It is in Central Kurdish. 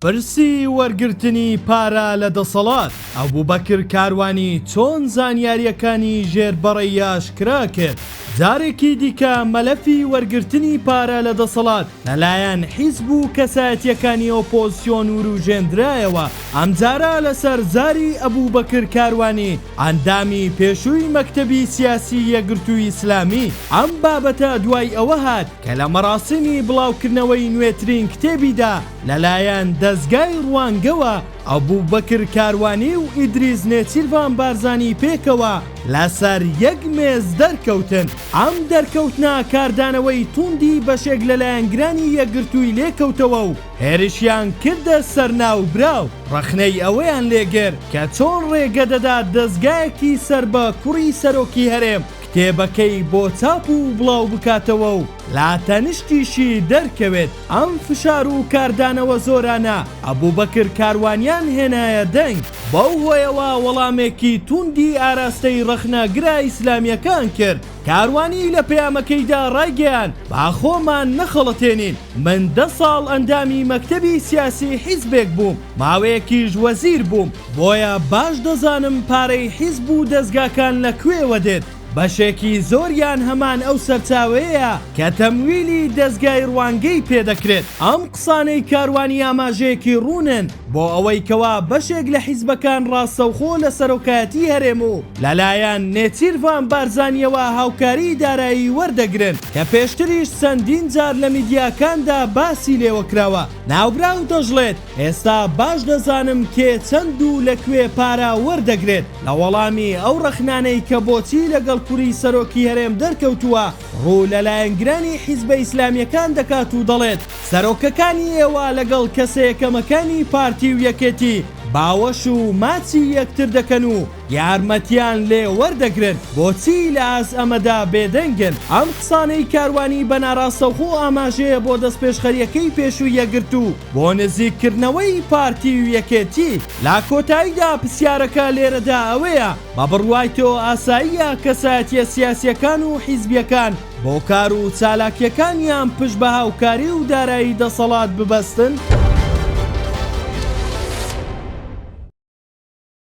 پرسی وەرگرتنی پارە لە دەسەڵات، ئەبوبەکر کاروانی چۆن زانیارییەکانی ژێر بەڕەی ئاشکرا کرد؟ جارێکی دیکە مەلەفی وەرگرتنی پارە لە دەسەڵات لەلایەن حیزب و کەسایەتییەکانی ئۆپۆزسیۆن وروژێندرایەوە، ئەمجارە لەسەر زاری ئەبوبەکر کاروانی ئەندامی پێشووی مەکتەبی سیاسی یەکگرتووی ئیسلامی. ئەم بابەتە دوای ئەوە هات کە لە مەراسیمی بڵاوکردنەوەی نوێترین کتێبیدا، لەلایەن دەزگای روانگەوە ئەبوبەکر کاروانی و ئیدریس نێچیرڤان بارزانی پێکەوە لەسەر یەک مێز دەرکەوتن، ئەم دەرکەوتنە کاردانەوەی توندی بەشێک لە لایەنگرانی یەکگرتووی لێکەوتەوە و هێرشیان کردە سەر ناوبراو، رەخنەی ئەوەیان لێگرت کە چۆن رێگە دەدات دەزگایەکی سەر بە کوڕی سەرۆکی هەرێم کتێبەکەی بۆ چاپ و بڵاوبکاتەوە و لە تەنشتیشی دەرکەوێت ئەم فشار و کاردانەوە زۆرانە ئەبوبەکر کاروانیان هێنایە دەنگ، بەو هۆیەوە وەڵامێکی تووندی ئاراستەی ڕەخنەگرە ئیسلامیەکان کرد، کاروانی لە پەیامەکەیدا ڕایگەیاند، با خۆمان نەخەڵەتێنین، من دە ساڵ ئەندامی مەکتەبی سیاسی حیزبێک بووم، ماوەیەکیش وەزیر بووم، بۆیە باش دەزانم پارەی حیزب و دەزگاکان لە کوێوە دێت، بەشێکی زۆریان هەمان ئەو سەرچاوەیەیە کە تەمویلی دەزگای ڕوانگەی پێ دەکرێت. ئەم قسانەی کاروانی ئاماژەیەکی ڕوونن بۆ ئەوەی کەوا بەشێک لە حیزبەکان ڕاستەوخۆ لە سەرۆکایەتی هەرێم و لەلایەن نێچیرڤان بارزانییەوە هاوکاریی دارایی وەردەگرن کە پێشتریش چەندین جار لە میدیاکاندا باسی لێوەکراوە. ناوبراو دەشڵێت، ئێستا باش دەزانم کێ چەند و لە کوێ پارە وەردەگرێت لە وەڵامی ئەو ڕەخنانەی کە بۆچی لەگەڵ کوڕی سەرۆکی هەرێم دەرکەوتووە ڕوو لە لایەنگرانی حیزبە ئیسلامیەکان دەکات و دەڵێت سەرۆکەکانی ئێوە لەگەڵ کەسە یەکەمەکانی پارتی و یەکێتی باوەش و ماچی یەکتر دەکەن و یارمەتیان لێ وەردەگرن بۆچی لە ئاست ئەمەدا بێدەنگن ئەم قسانەی کاروانی بە ناراستەوخۆ ئاماژەیە بۆ دەستپێشخەریەکەی پێشوی یەکگرتو بۆ نزیک کردنەوەی پارتی و یەکێتی لە کۆتاییدا پسیارەکە لێرەدا ئەوەیە بە بڕوای تۆ ئاساییە کەسایەتیە سیاسیەکان و حیزبیەکان بۆ کار و چالاکیەکانیان پشت بە هاوکاری و دارایی دەسەڵات ببەستن؟